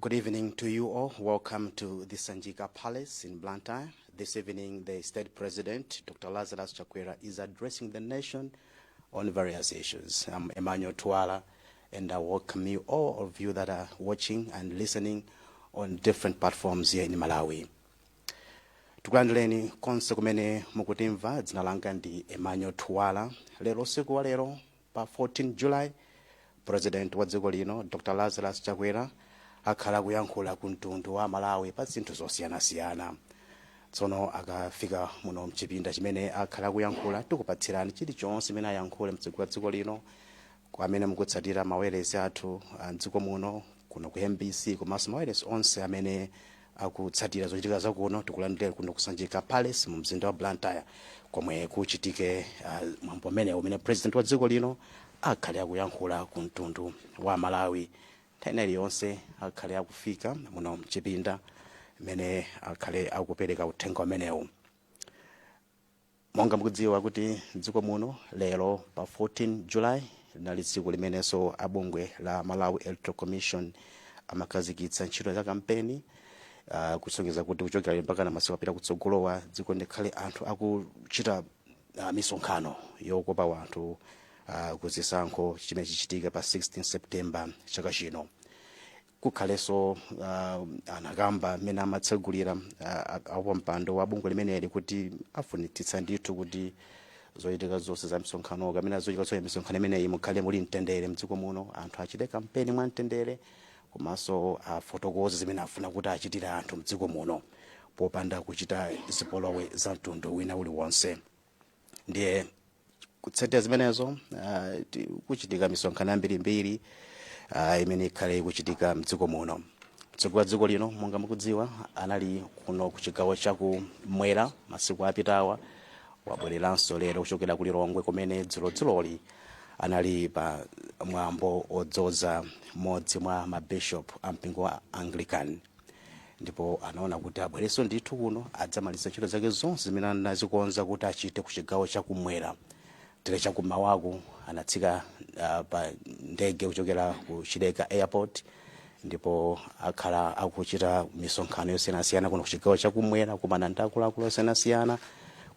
Good evening to you all. Welcome to the Sanjika Palace in Blantyre. This evening, the State President, Dr. Lazarus Chakwera, is addressing the nation on various issues. I'm Emmanuel Tuala, and I welcome you, all of you that are watching and listening on different platforms here in Malawi. tikulandireni konse kumene mukutimva dzina langa ndi emmanuel tuwala lero usiku wa lero Pa 14 July, President wa dziko lino, Dr Lazarus Chakwera, akhale akuyankhula ku mtundu wa Amalawi pa zinthu zosiyanasiyana. Tsono akafika muno mchipinda chimene akhale akuyankhula, tikupatsirani chilichonse chimene ayankhule mtsogoleri wa dziko lino, kwa amene mukutsatira mawayilesi athu a mdziko muno, kuno ku mbc, komanso mawayilesi onse amene akutsatira zochitika zakuno tikulandire kuno ku sanjika palace mu mzinda wa blantyre komwe kuchitike uh, mwambo umenewu umene president wa dziko lino akhale akuyankhula ku mtundu wa amalawi nthawi ina iliyonse akhale akufika muno mchipinda mmene akhale akupereka uthenga umenewu monga mukudziwa kuti mdziko muno lero pa 14 july linali tsiku limenenso a bungwe la malawi electoral commission amakhazikitsa ntchito za kampeni uh, kusonyeza kuti kuchokera lero mpaka na masiku akupita kutsogolowa mdziko muno mukhale anthu akuchita uh, misonkhano yokopa anthu uh, ku chisankho chimene chichitike pa 16 september chaka chino kukhalenso uh, anakamba mmene amatsegulira uh, wapampando wa bungwe limeneli kuti afunitsitsa ndithu kuti zochitika zonse za misonkhano kapena zochitika zonse misonkhano imeneyi mukhale muli mtendere mdziko muno anthu achite kampeni mwa mtendere komanso afotokoze zimene afuna kuti achitire anthu mdziko muno popanda kuchita zipolowe za mtundu wina uliwonse ndiye kutsatira zimenezo ah, ti- kuchitika misonkhano yambirimbiri ah, imene ikhale ikuchitika mdziko muno mtsogoleri wa dziko lino monga mukudziwa anali kuno ku chigawo cha kumwera masiku apitawa wabwereranso lero kuchokera ku lilongwe kumene dzulodzuloli anali pa mwambo odzoza mmodzi mwa mabishop a mpingo wa anglican ndipo anaona kuti abwererenso ndithu kuno adzamalize ntchito zake zonse zimene anazikonza kuti achite ku chigawo chakumwera tere chakumawaku anatsika uh, pa ndege kuchokera ku chileka airport ndipo akhala akuchita misonkhano yosiyanasiyana kuno ku chigawo chakumwera kumana ndi akuluakulu osiyanasiyana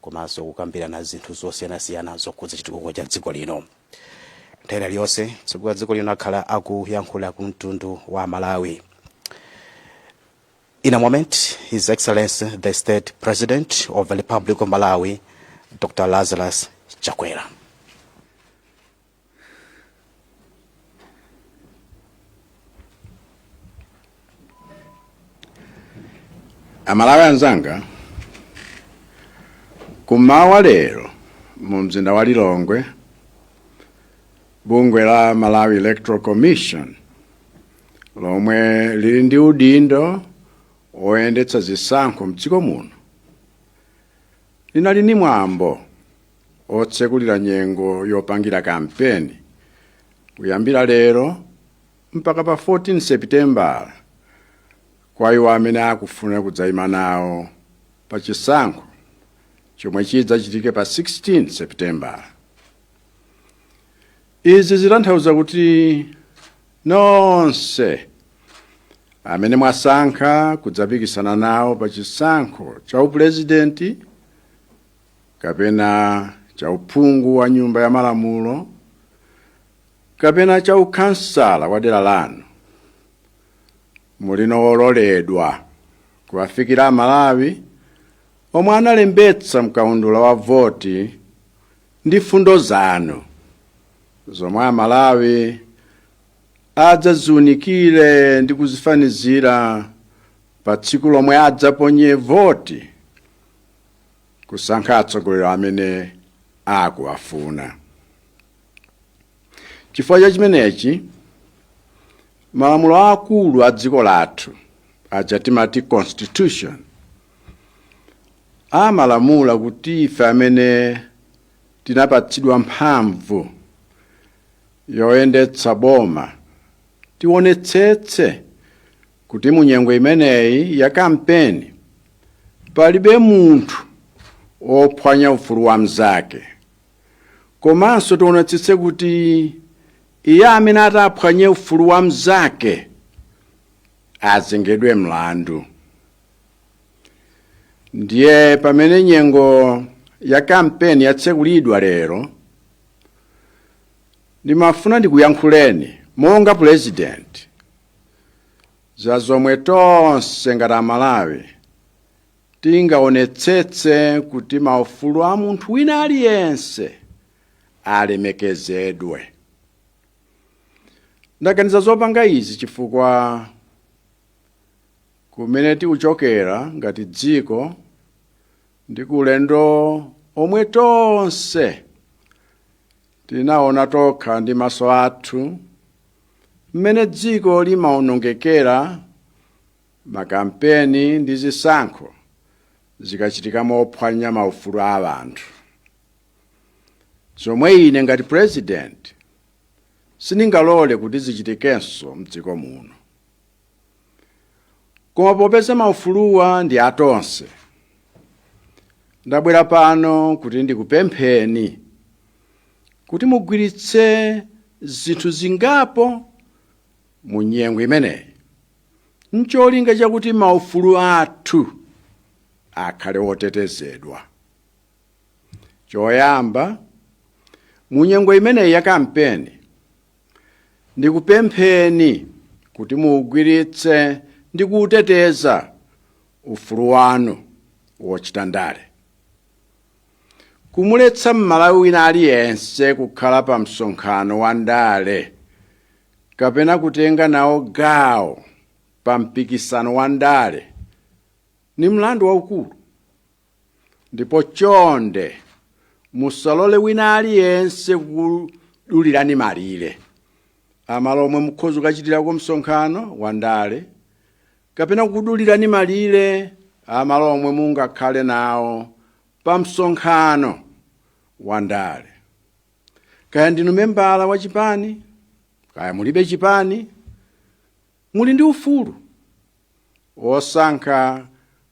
komanso kukambirana zinthu zosiyanasiyana zokhudza chitukuko cha dziko lino nthawi ina iliyonse mtsogoleri wa dziko lino akhala akuyankhula ku mtundu wa malawi In a moment, His Excellency the State President of the Republic of Malawi, Dr. Lazarus Chakwera. amalawi anzanga kumawa lero mumzinda wa lilongwe bungwe la malawi electoral commission lomwe lili ndi udindo woyendetsa zisankho mdziko muno linali ndi mwambo otsekulira nyengo yopangira kampeni kuyambira lero mpaka pa 14 sepitembala kwa iwo amene akufuna kudzaima nawo pa chisankho chomwe chidzachitike pa 16 sepitembala izi zitanthauza kuti nonse amene mwasankha kudzapikisana nawo pa chisankho cha upulezidenti kapena cha uphungu wa nyumba ya malamulo kapena cha ukhansala wa dera lanu muli ololedwa kuwafikira amalawi omwe analembetsa mkaundula wa voti ndi fundo zanu zomwe amalawi adzaziunikire ndi kuzifanizira pa tsiku lomwe adzaponye voti kusankha atsogoleri amene akuwafuna Chifukwa cha chimenechi, malamulo aakulu a dziko lathu aja timati constitution amalamula kuti ife amene tinapatsidwa mphamvu yoyendetsa boma tionetsetse kuti mu nyengo imeneyi ya kampeni palibe munthu wophwanya ufulu wa mnzake komanso tionetsetse kuti iye amene ataphwanye ufulu wa mnzake azengedwe mlandu ndiye pamene nyengo ya kampeni yatsekulidwa lero ndimafuna ndikuyankhuleni monga pulezidenti za zomwe tonse ngati amalawi Tingaonetsetse kuti maufulu a munthu wina aliyense alemekezedwe. Ndaganiza zopanga izi chifukwa kumene tikuchokera ngati dziko ndi ku ulendo omwe tonse tinaona tokha ndi maso athu mmene dziko limaonongekera Makampeni ndi zisankho zikachitika mophwanya maufulu a anthu, zomwe ine ngati president sindingalole kuti zichitikenso mdziko muno. Koma popeza maufuluwa ndi a tonse, ndabwera pano kuti ndikupempheni kuti muugwiritse zinthu zingapo mu nyengo imeneyi. n'cholinga chakuti maufulu athu akhale otetezedwa. Choyamba, mu nyengo imeneyi ya kampeni, ndikupempheni kuti muugwiritse ndi kuuteteza ufulu wanu wochita ndale. Kumuletsa Mmalawi wina aliyense kukhala pa msonkhano wa ndale kapena kutenga nawo gawo pa mpikisano wa ndale ni mlandu waukulu ndipo chonde musalole wina aliyense kukudulirani malire a malo omwe mukhoza kukachitirako msonkhano wa ndale kapena kukudulirani malire a malo omwe mungakhale nawo pa msonkhano wa ndale kaya ndinu membala wa chipani kaya mulibe chipani muli ndi ufulu wosankha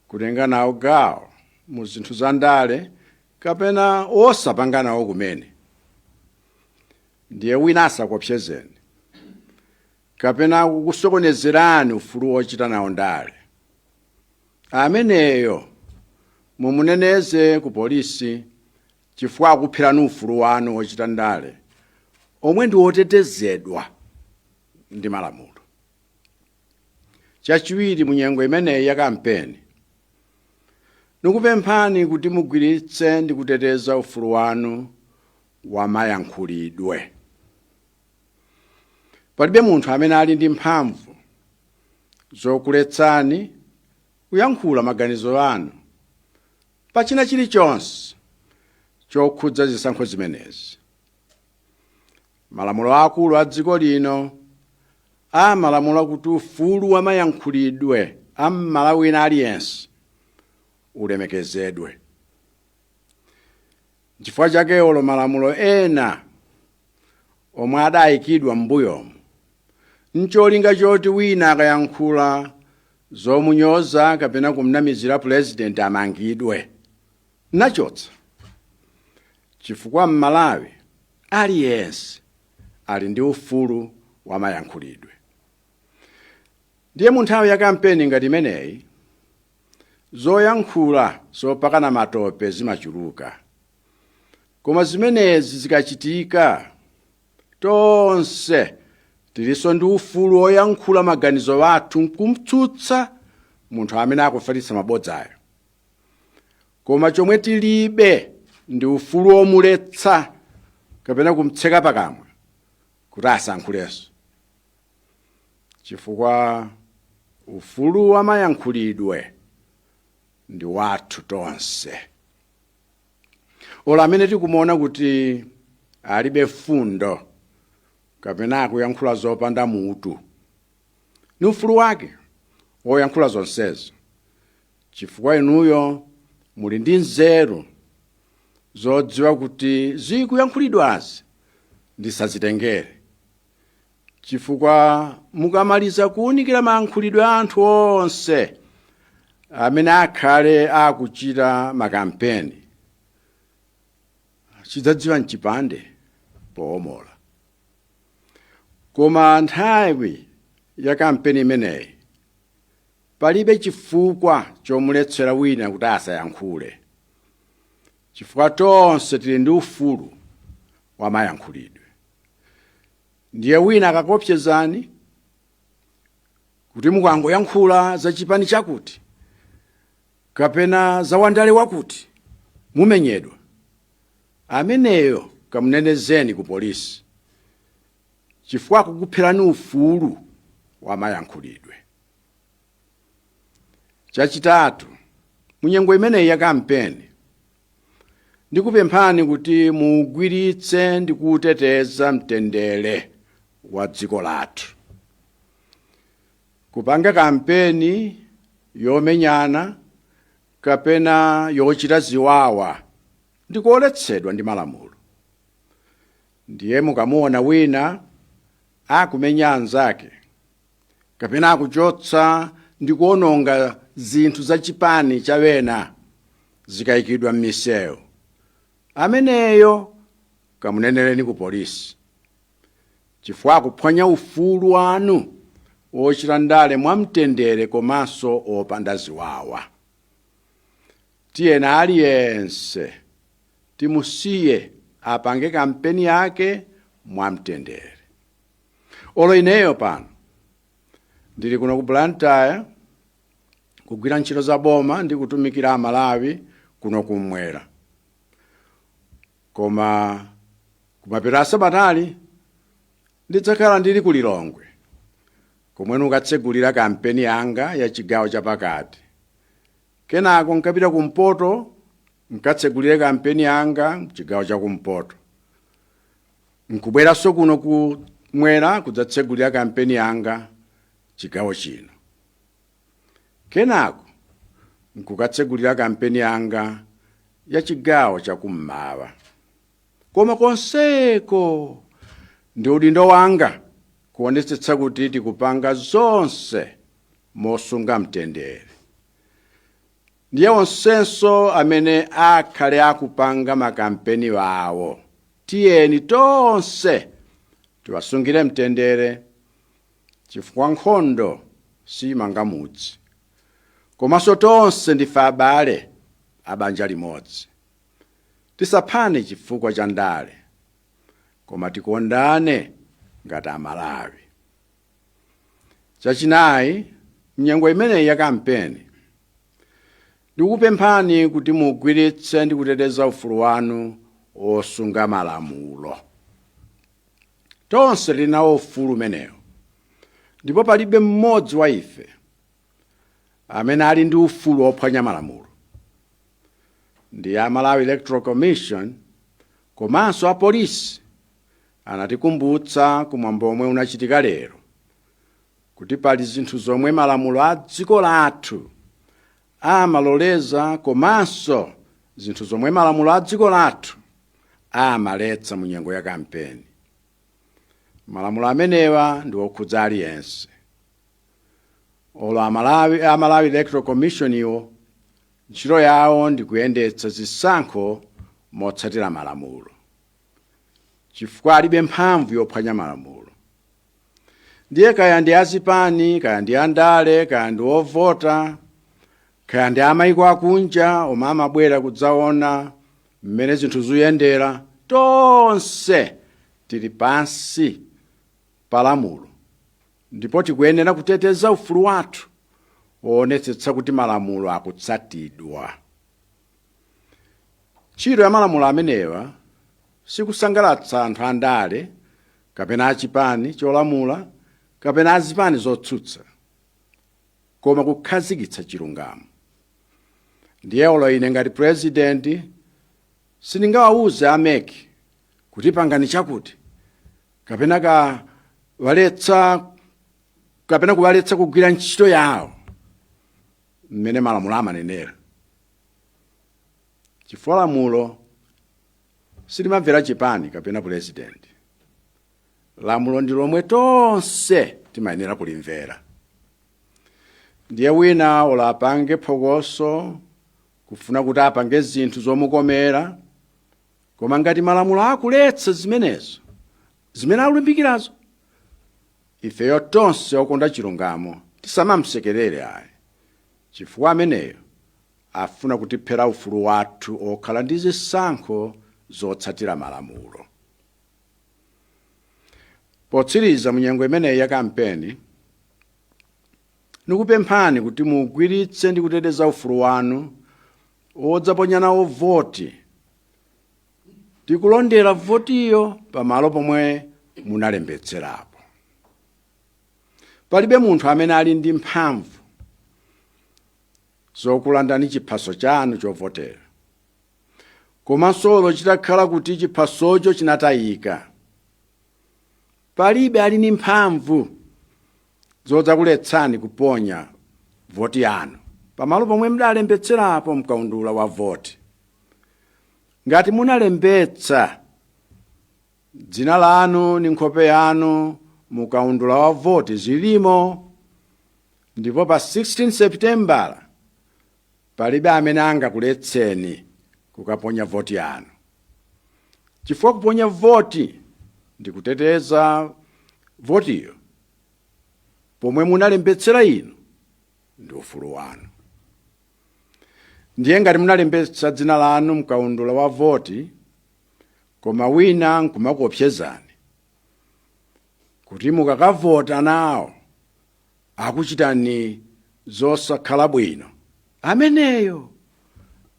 kutenga nawo gawo mu zinthu za ndale kapena osapanga nawo kumene ndiye wina asakuopsezeni kapena kukusokonezerani ufulu wochita nawo ndale ameneyo mumuneneze ku polisi chifukwa akuphwanyirani ufulu wanu wochita ndale omwe ndi otetezedwa ndi malamulo. Chachiwiri, mu nyengo imeneyi ya kampeni, ndikupemphani kuti muugwiritse ndi kuteteza ufulu wanu wa mayankhulidwe. Palibe munthu amene ali ndi mphamvu zokuletsani kuyankhula maganizo anu pa china chilichonse chokhudza zisankho zimenezi. Malamulo aakulu a dziko lino amalamula kuti ufulu wa mayankhulidwe a Mmalawi wina aliyense ulemekezedwe. Nchifukwa chake olo malamulo ena omwe adayikidwa m'mbuyomu ncholinga choti wina akayankhula zomunyoza kapena kumnamizira pulezidenti amangidwe nachotsa chifukwa mmalawi aliyense ali ndi ufulu wa mayankhulidwe ndiye mu nthawi ya kampeni ngati imeneyi zoyankhula zopakana matope zimachuluka koma zimenezi zikachitika tonse tilinso ndi ufulu woyankhula maganizo athu nkumtsutsa munthu amene akufalitsa mabodzayo koma chomwe tilibe ndi ufulu womuletsa kapena kumtseka pakamwa kuti asankhulenso chifukwa ufulu wamayankhulidwe ndi wathu tonse olo amene tikumuona kuti alibe fundo kapena akuyankhula zopanda mutu ni ufulu wake woyankhula zonsezo chifukwa inuyo muli ndi nzeru zodziwa kuti zikuyankhulidwazi ndisazitengere chifukwa mukamaliza kuwunikira mayankhulidwe a anthu onse amene akhale akuchita makampeni chidzadziwa mchipande poomola koma nthawi ya kampeni imeneyi palibe chifukwa chomuletsera wina kuti asayankhule chifukwa tonse tili ndi ufulu wa mayankhulidwe ndiye wina akakopsezani kuti mukangoyankhula za chipani chakuti kapena za wandale wakuti mumenyedwa ameneyo kamunenezeni ku polisi chifukwa akukupherani ufulu wa mayankhulidwe chachitatu mu nyengo imeneyi ya kampeni ndikupemphani kuti muugwiritse ndi kuuteteza mtendere wa dziko lathu kupanga kampeni yomenyana kapena yochita ziwawa ndikuoletsedwa ndi malamulo ndiye mukamuona wina akumenya anzake kapena akuchotsa ndi kuononga zinthu za chipani cha wena zikayikidwa m'misewu ameneyo kamuneneleni ku polisi chifukwa akuphwanya ufulu wanu wochita ndale mwamtendere komanso opanda ziwawa tiyena aliyense timusiye apange kampeni yake mwamtendere olo ineyo pano ndili kuno ku blantyre kugwira ntchito za boma ndi kutumikira amalawi kuno kumwera koma kumapeto a sabatali ndidzakhala ndili ku lilongwe komwe nkatsegulira kampeni yanga ya chigawo chapakati kenako nkapita kumpoto nkatsegulire kampeni yanga mchigawo cha kumpoto Nkubweranso kuno kumwera kudzatsegulira kampeni yanga chigawo chino. Kenako nkukatsegulira kampeni yanga ya chigawo chakummawa. Koma konseko ndi udindo wanga kuonetsetsa kuti tikupanga zonse mosunga mtendere. ndiye onsenso amene akhale akupanga makampeni wawo tiyeni tonse tiwasungire mtendere chifukwa nkhondo simanga mudzi komanso tonse ndife abale a banja limodzi tisaphane chifukwa cha ndale koma tikondane ngati amalawi Chachinayi, m'nyengo imeneyi ya kampeni, ndikupemphani kuti mugwiritse ndi kuteteza ufulu wanu wosunga malamulo. Tonse tili nawo ufulu umenewo ndipo palibe mmodzi wa ife amene ali ndi ufulu wophwanya malamulo. Ndiye a Malawi Electoral Commission komanso apolisi Anatikumbutsa ku mwambo omwe unachitika lero kuti pali zinthu zomwe malamulo a dziko lathu amaloleza komanso zinthu zomwe malamulo a dziko lathu amaletsa mu nyengo ya kampeni. Malamulo amenewa ndi okhudza aliyense. Olo a Malawi, a Malawi Electoral Commission iwo ntchito yawo ndi kuyendetsa zisankho motsatira malamulo. chifukwa alibe mphamvu yophwanya malamulo ndiye kaya ndi azipani kaya ndi andale kaya ndi ovota kaya ndi amayiko akunja omwe amabwera kudzaona mmene zinthu zikuyendera tonse tili pansi pa lamulo ndipo tikuyenera kuteteza ufulu wathu woonetsetsa kuti malamulo akutsatidwa Ntchito ya malamulo amenewa si kusangalatsa anthu andale kapena a chipani cholamula kapena a zipani zotsutsa, koma kukhazikitsa chilungamo. Ndiye olo ine ngati pulezidenti sindingawauze a mec kuti pangani chakuti kapena kuwaletsa kugwira ntchito yawo mmene malamulo amanenera. chifukwa lamulo silimamvera chipani kapena pulezidenti lamulo ndi lomwe tonse timayenera kulimvera ndiye wina olo apange phokoso kufuna kuti apange zinthu zomukomera koma ngati malamulo akuletsa zimenezo zimene akulimbikirazo ifeyo tonse okonda chilungamo tisamamsekerere ayi Chifukwa ameneyo afuna kutiphera ufulu wathu okhala ndi zisankho zotsatira malamulo. Potsiriza mu nyengo imeneyi ya kampeni, ndikupemphani kuti mugwiritse ndi kuteteza ufulu wanu odzaponya nawo voti ndi kulondera votiyo pamalo pomwe munalembetserapo. Palibe munthu amene ali ndi mphamvu zokulandani chiphaso chanu chovotera. Komanso olo chitakhala kuti chiphasocho chinatayika, palibe ali ndi mphamvu zodzakuletsani kuponya voti yanu pamalo pomwe mudalembetserapo mkaundula wa voti. Ngati munalembetsa Dzina lanu ndi nkhope yanu mu kaundula wa voti zilimo, ndipo pa 16 Seputembala palibe amene angakuletseni kukaponya voti yanu, chifukwa kuponya voti ndi kuteteza votiyo pomwe munalembetsera inu ndi ufulu wanu. Ndiye ngati munalembetsa dzina lanu mkaundula wa voti, koma wina nkumakuopsezani kuti mukakavota nawo akuchitani zosakhala bwino ameneyo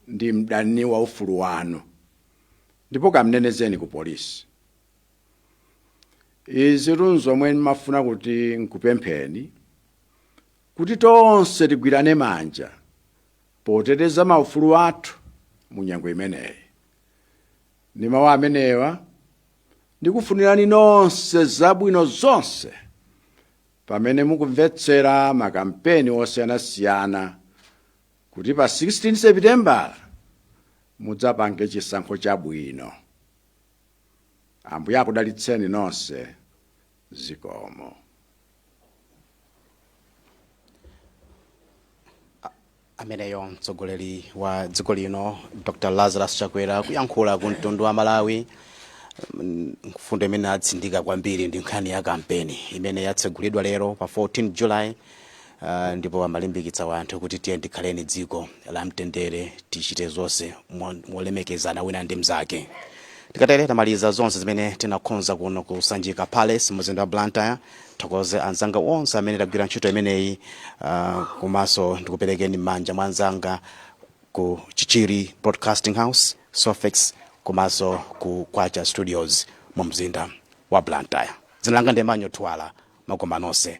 ndi mdani wa ufulu wanu ndipo kamnenezeni ku polisi izitu nzomwe ndimafuna kuti nkupempheni kuti tonse tigwirane manja poteteza maufulu athu mu nyengo imeneyi ndi mawu amenewa ndikufunirani nonse zabwino zonse pamene mukumvetsera makampeni osiyanasiyana kuti pa 16 sepitembala mudzapange chisankho chabwino ambuye akudalitseni nonse zikomo ameneyo mtsogoleri wa dziko lino dr lazarus chakwera kuyankhula ku mtundu wa malawi mfundo imene atsindika kwambiri ndi nkhani ya kampeni imene yatsegulidwa lero pa 14 july Ndipo amalimbikitsa wanthu kuti tiyeni tikhaleni dziko la mtendere, tichite zonse molemekezana wina ndi mzake. Tikatere tamaliza zonse zimene tinakonza kuno ku Sanjika Palace muzinda wa Blantyre. Thokoze anzanga onse amene tagwira ntchito imeneyi komanso ndikuperekeni mmanja mwa anzanga ku Chichiri Broadcasting House, Sofex komanso ku Kwacha Studios mu mzinda wa Blantyre. Dzina langa ndi Emmanuel Twala makoma nonse.